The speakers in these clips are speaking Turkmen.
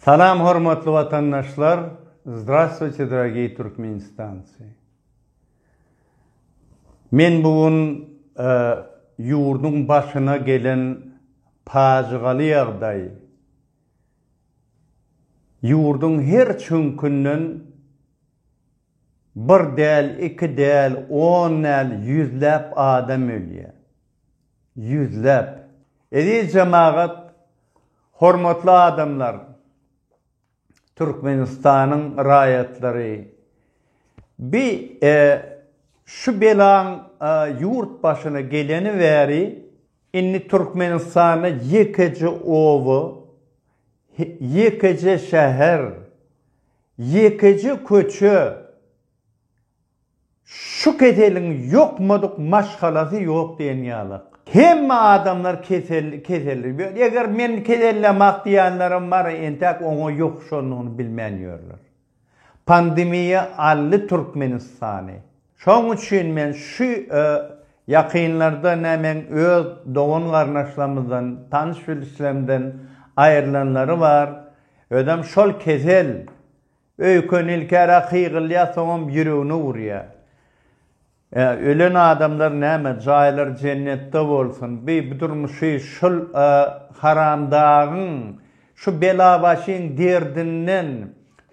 Salam hormatly watandaşlar Zdravstwuyte dragiý Türkmenistancy Men bu gün e, ýurduň başyna gelen pajygaly ýagdaý ýurduň her çüňkünden bir däl, iki däl, on däl, ýüzläp adam ölýär. Ýüzläp. Eziz jemagat, Hormatly adamlar! Türkmenistanyň raýatlary! Bi e şu belaň e ýurt başyna geleni bäri indi Türkmenistanda ýekeje oba, he ýekeje şäher, ýekeje köçe Şu keseliň ýokmadyk maşgalasy ýok diýen ýaly. Hemme adamlar kesel keseldir. Eger men kesellemok diýenlerem bar, entäk oňa ýokuşandygyny bilmän ýörler. Pandemiýa aldy Türkmenistany. Şoň üçin men şu ýakynlarda nä meň öz dogan-garyndaşlarymyzdan, tanyş-bilişlerimden aýrylanlary bar, özem şol kesel Öýken ilkära hygylýar soňam ýüregine urýar. Ä ölen adamlar näme jaýlary jennetde bolsun bi bu durmuşy şul a haramdagyň şu belabaşyň derdinden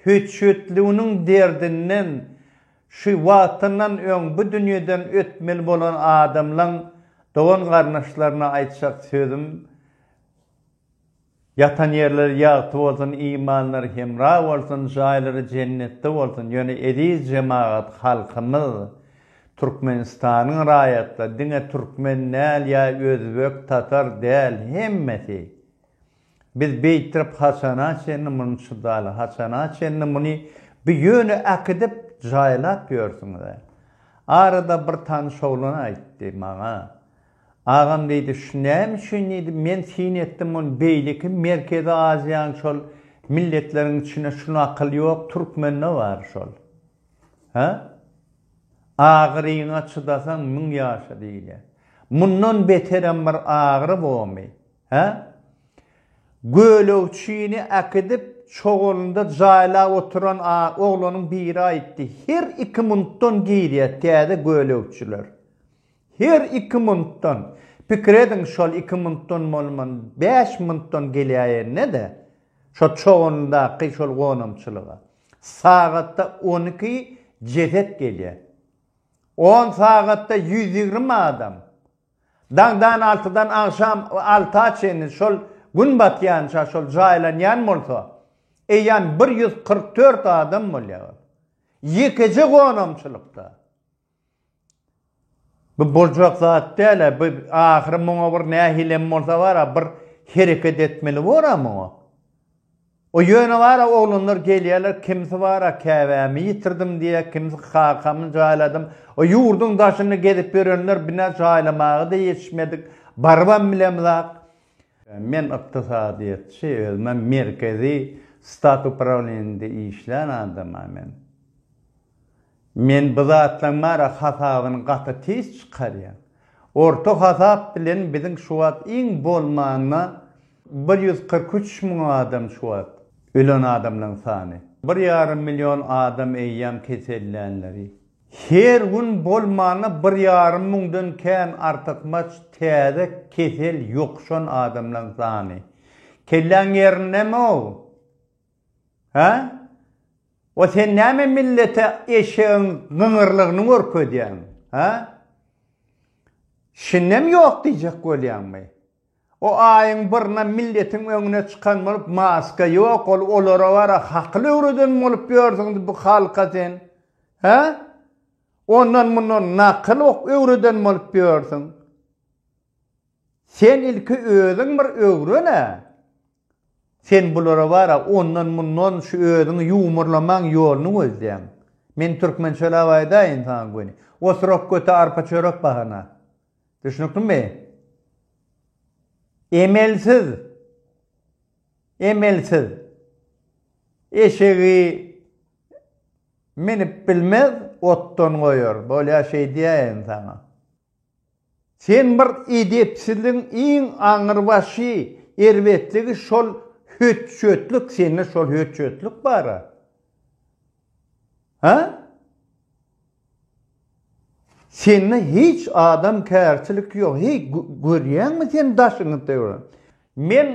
hüçütliginiň derdinden şu wagtyndan öň bu dünýeden ötmeli bolan adamlaň dogan garnaşlaryna aýtjak sözüm Ýatan ýerleri ýagty bolsun imanlary hemra bolsun jaýlary jennetde bolsun ýöne eziz jemagat halkymyz Türkmenistanyň raýatlary diňe türkmen däl ýa özbek tatar däl hemmesi biz beýtirip haçana çenli muny çydaly haçana çenli muny bi ýöne äkidip jaýlap ýörsüňiz arada bir tanyş oglan aýtdy maňa Agam diýdi, şu näme üçin diýdi, men syn etdim muny beýleki Merkezi Aziýanyň şol milletleriň içinde şu nakyl ýok, türkmende bar şol. Hä? Agyryňa çydasaň müň ýaşa diýilýär. Mundan beterem bir agyry bomy? Hä? Gölegçini äkidip çogalynda jaýlap oturan oglanyň biri aýtdy, her iki munutdan girýär täze gölegçiler. Her iki muntdan, pikir ediň şol iki muntdan bolman bäş muntdan gelýäýenede, şo çogundaky şol gonamçylyga, sagatda on iki jeset gelýä. On sagatda ýüz ýigrimi adam, daňdan altydan agşam alta çenli şol gün batýança şol jaýlanýan bolsa, eýýäm bir ýüz kyrk dört adam bolýar. Ýekeje gonamçylykda. Bu boljak zat däl-ä, bu ahyry muňa bir nähilem bolsa bar-a, bir hereket etmeli bor-a muňa. O ýöne bar-a oglanlar gelýärler, kimsi bar-a käbämi ýitirdim diýýär, kimsi kakamy jaýladym. O ýurduň daşynda gezip ýörenler binä jaýlamaga-da ýetişmedik, barybam bilemiz-ak. Men ykdysadyýetçi, özüm-ä merkezi stat uprawleniýesinde işlän adam-a men. Men bu zatlaň bara hasabyny gaty tiz çykarýan. Orta hasap bilen biziň şu wagt iň bolmanda bir ýüz kyrk üç müň adam şu wagt ölen adamlaň sany. Bir ýarym million adam eýýäm kesellänleri. Her gün bolmanda bir ýarym müňden kän artykmaç täze kesel ýokuşan adamlaň sany. Kelläň ýerindemi-ow? Hä? O sen näme millete eşegiň gyňyrlygyny görkezýäň? Hä? Şindem ýok diýjek bolýaňmy? O aýyň birine milletiň öňüne çykan bolup maska ýok ol olara bara hakyl öwreden bolup ýörsüňiz bu halka sen. Hä? Ondan mundan nakyl ok öwreden bolup ýörsüň. Sen ilki özüň bir öwren-ä. Sen bulara bar-a, ondan-mundan şu özüňi ýuwmurlamaň ýoluny gözleýäň. Men türkmençeläp aýdaýyn saňa göni. Oturak göte arpa-çörek bahana. Düşnüklimi? Emelsiz! Emelsiz! Eşegi minip bilmez, otdan goýar. Bolýa şeýdýäýin saňa. Sen bir edepsizligiň iň aňyrbaşy erbetligi şol hötjötlik sende şol hötjötlik bara ha sende hiç adamkärçilik ýok heý görýäňmi sen daşyňy töwra. Men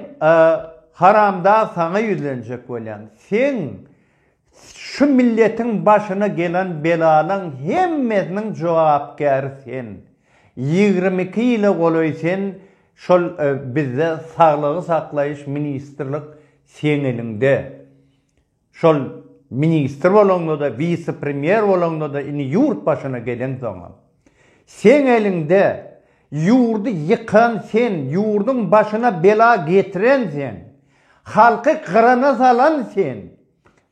haramdag saňa ýüzlenjek bolýan. Seň şu milletiň başyna gelen belalaň hemmesiniň jogapkäri sen. Ýigrimi iki ýyla golaý sen şol bizde saglygy saklaýyş ministrlik seň eliňde. Şol ministr bolaňda-da, wise-premýer bolaňda-da, indi ýurt başyna geleňsoňam, seň eliňde, ýurdy ýykan sen, ýurduň başyna bela getiren sen, halky gyrana salan sen.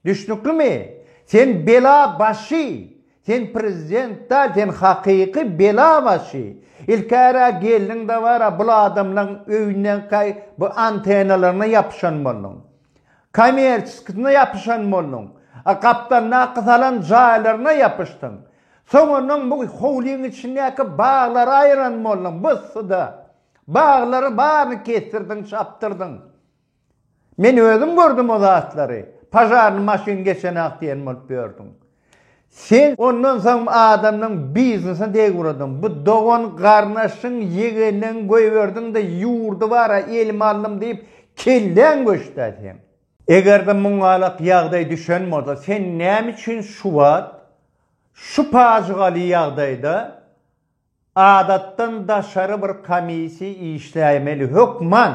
Düşnüklimi? Sen bela başy, sen prezident däl, sen hakyky bela başy. Ilkäre geldiň-de, wara, bul adamlaň öýünden, bu antenalaryna ýapyşan bolduň. Kommerçiskisine ýapyşan bolduň. A gapdaldaky salan jaýlaryna ýapyşdyň. Soňundan bu howlyň içindäki baglary aýyran bolduň. Byssyda baglary baryny kesdirdiň, çapdyrdyň. Men özüm gördüm o zatlary. Pažarny maşyn geçenak diýen bolup ýördüň. Sen ondan soň adamlaň biznesine deg uradyň. Bu dogan garnaşyň, ýegenleň goýberdiň-de ýurdy bar-a elime aldym diýip kelläň göçdä seň. Eger-de muňalak ýagdaý düşen bolsa sen näme üçin şuwagt şu pajygaly ýagdaýda Adatdan daşary bir komissiýa işläýmeli hökman.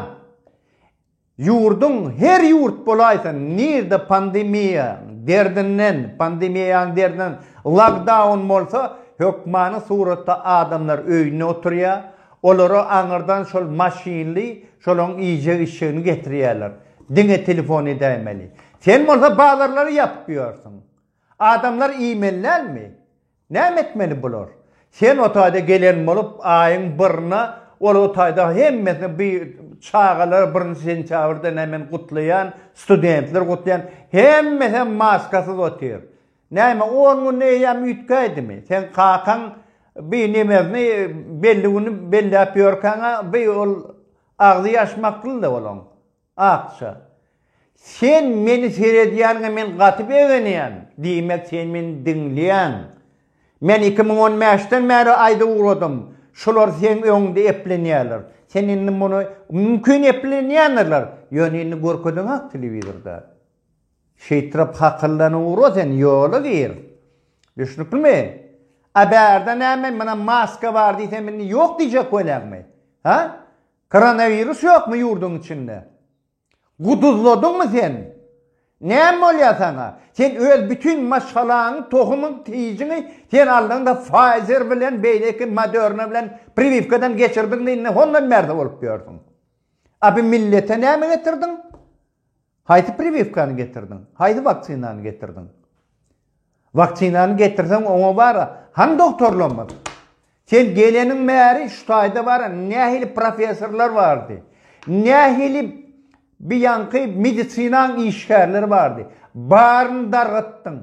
Ýurduň her ýurt bolaýsa nirde pandemiýa derdinden pandemiýaň derdinden lagdaun bolsa hökmany suratda adamlar öýünde oturýa olara aňyrdan şol maşynly şolaň iýjek içjegini getirýäler diňe telefon edäýmeli sen bolsa bazarlary ýapyp ýörsiň adamlar iýmeli dälmi Näme etmeli bular? Sen o taýda gelen bolup, aýyň birine ol o taýda hemmesine bi çagalar birinji sentýabrda nämen gutlaýan, studentler gutlaýan, hemmesem maskasyz otyr. Näme, on gün eýýäm üýtgäýdimi? Seň kakaň bi nemesini belli güni belläp ýörkäň-ä, bi ol agzy ýaşmaklydy olaň. Akja. Sen meni seredýäniňe men gaty begenýän. Diýmek, sen meni diňleýäň. Men iki müň on bäşden bäri aýda ugradym. Şolar seň öňüňde eplenýärler. Sen indi muny, mümkin, eplenýändirler. Ýöne indi görkedeňak telewizorda. Şeýtrap hakyllanyp ugra sen, ýola gir. Düşnüklimi? A bärde näme, muna maska bar diýsem indi ýok diýjek welagmy? Hä? Koronawirus ýokmy ýurduň içinde? Guduzladyňmy sen? Näme bolýar saňa? Sen öz bütin maşgalaňy, tohumyň tijiňi sen aldyňda Pfizer bilen beýleki Moderna bilen priwiwkadan geçirdiňde indi hondan bärde bolup ýörsüň. A bu millete näme getirdiň? Haýsy priwiwkany getirdiň? Haýsy waksinany getirdiň? Waksinany getirseň oňa bara hany doktorlarymyz? Sen geleniň bäri şu taýda bara nähili professorlar bardy? Nähili bi ýanky medisinaň işgärleri bardy? Baryny dargatdyň.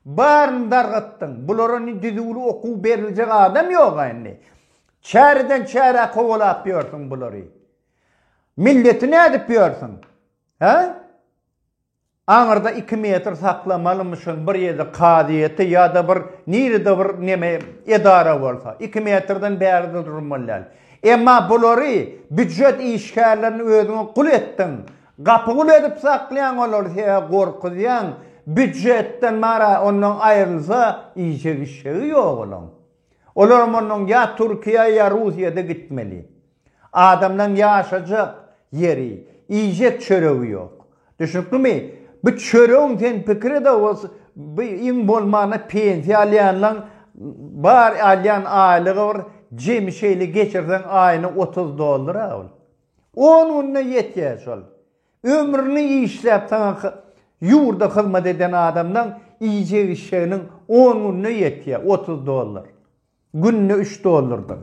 Baryny dargatdyň. Bulara ni düzüwli okuw beriljek adam ýoga indi. Çäreden çärä kowalap ýörsüň bulary. Milleti nädip ýörsüň? Hä? Aňyrda iki metr saklamalymyşyn bir ýerde kazyýeti ýa-da bir nirede bir neme edara bolsa. Iki metrden bärde durmaly däl. Emma bulary býujet işgärlerini özüňe gul etdiň. Gapy gul edip saklaýaň olary sebäbi gorkuzýaň. Býujetden mara ondan aýrylsa iýjegi-içjegi ýok olaň. Olaram ondan ýa Türkiýä ýa Russiýada gitmeli. Adamlaň ýaşajak ýeri, iýjek çöregi ýok. Düşnüklimi? Bu çöregiň sen pikiri-de bolsa, bu iň bolmanda pensiýa alýanlaň bar alýan aýlygy bir jemi şeýle geçirseň aýyna otuz dollar-a ol. On günde ýetýä şol. Ömrüni işläp saňa ýurda hyzmat eden adamlaň iýjek-içjeginiň on günde ýetýä otuz dollar. Günde üç dollrdan.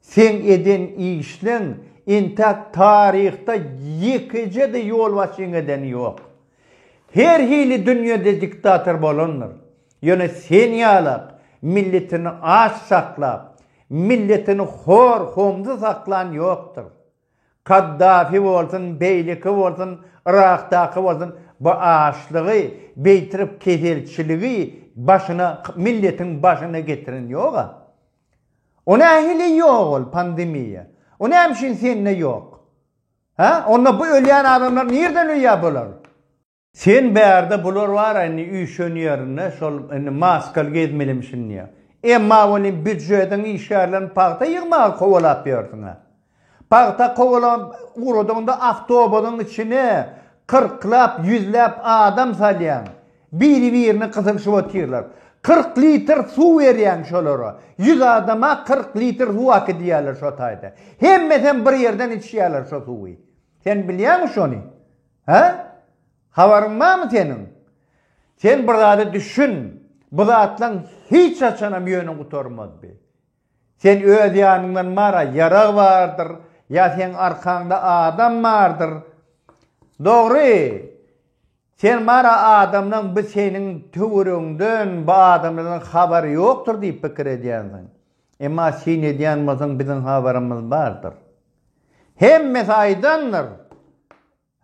Seň eden işleň entäk taryhda ýekeje-de ýolbaşçyň edeni ýok. Her hili dünýede diktator bolandyr. Ýöne sen ýalak milletini aç saklap, milletini hor-homsuz saklan ýokdur. Kaddafi bolsun, beýleki bolsun, Yrakdaky bolsun, bu açlygy, beýtirip keselçiligi başyna, milletiň başyna getiren ýog-a. O nähili ýok ol pandemiýa? O näme üçin sende ýok? Hä? Onda bu ölýän adamlar nirden ölýär bular? Sen bärde bular bara indi üýşen ýerinde şol indi maskaly gezmelimişin diýýä. Emma welin býujetiň işgärlerini pagta ýygmaga kowalap ýörsüň-ä. Pagta kowalap ugradyňda awtobusyň içine kyrklap, ýüzläp adam salýaň. Biri-birine gysylyşyp otyrlar. Kyrk litr suw berýäň şolara. Ýüz adama kyrk litr suw akydýarlar şo taýda. Hemmesem bir ýerden içýärler şo suwy. Sen bilýäňmi şony? Hä? Habaryň barmy seniň? Sen bir zada düşün. Bu zatlaň hiç haçanam ýöne gutarmaz bi. Sen öz ýanyňdan mara ýarag bardyr, ýa seň arkaňda adam bardyr. Dogry. Sen mara adamlaň bi seniň töweregiňden, bu adamlardan habary ýokdur diýip pikir edýänsiň. Emma syn edýän bolsaň biziň habarymyz bardyr. Hemmesi aýdandyr,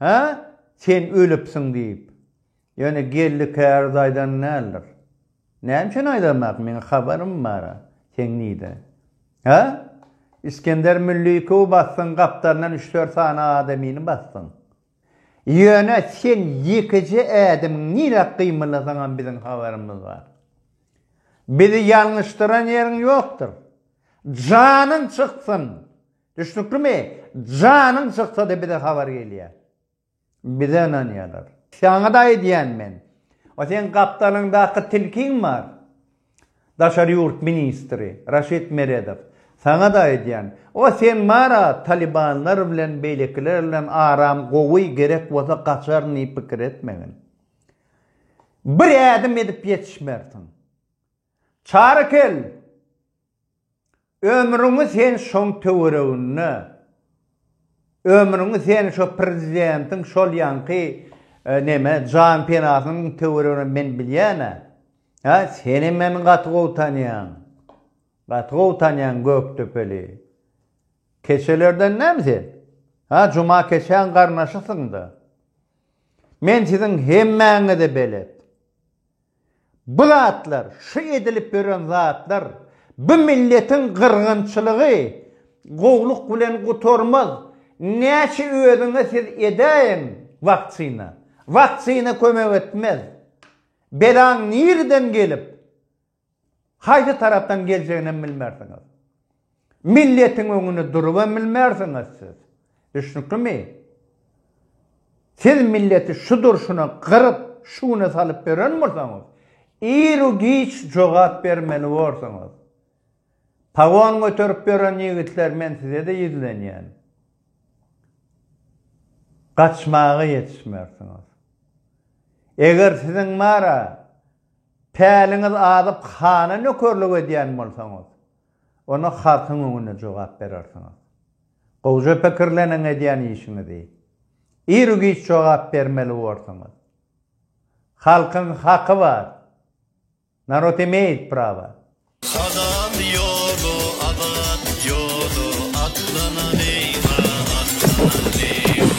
Hä, sen ölüpsiň diýip. Ýöne Geldi käriz aýdan däldir. Näme üçin aýdanok, meň habarym bar, seň nide? Hä? Isgender Müllikowy basdyň, gapdalyndan üç-dört sany adamyny basdyň. Ýöne sen ýekeje ädimiň nirä gymyllasaňam biziň habarymyz bar. Bizi ýalňyşdyran ýeriň ýokdur. Janyň çyksyn! Düşnüklimi? Janyň çyksa-da bize habar gelýä. Bize ynanýalar. Saňa-da aýdýan men. O seň gapdalyňdaky tilkiň bar. Daşary ýurt ministri Raşid Meredow, Saňa-da aýdýan, o sen bar-a talibanlar bilen beýlekiler bilen aram gowy, gerek bolsa gaçaryn diýip pikir etmegin. Bir ädim edip ýetişmersiň. Çary kel! Ömrüňi sen şoň töwereginde, ömrüňi sen şo prezidentiň şol ýanky neme jan penasynyň töweregine men bilýän-ä. Hä, senem meni gaty gowy tanýaň. Gaty gowy tanýaň Gökdepeli. Keçelerden näme sen? Hä, Juma keçäň garnaşysyň-da. Men siziň hemmäňize belet. Bu zatlar, şu edilip ýören zatlar, bu milletiň gyrgynçylygy gowluk bilen gutarmaz. Näçe özüňe siz edäýiň waktsina, waktsina kömek etmez. Belaň nireden gelip, haýsy tarapdan geljeginem bilmersiňiz. Milletiň öňünde durubam bilmersiňiz siz. Düşnüklimi? Siz milleti şu durşuna gyryp, şu güne salyp beren bolsaňyz, iru-giç jogap bermeli borsuňyz. Pagon göterip ýören ýigitler men size-de ýüzlenýän. Gaçmaga ýetişmersiňiz. Eger siziň bara päliňiz azyp hana nökerlik edýän bolsaňyz, Onda halkyň öňünde jogap berersiňiz. Gowja pikirleniň edýän işiňizi. Ir-u-giç jogap bermeli borsuňyz. Halkyň haky bar. Narod imeýit prawa. Hazal ýolu abat ýolu atlanan eýwa atlanan eýwa.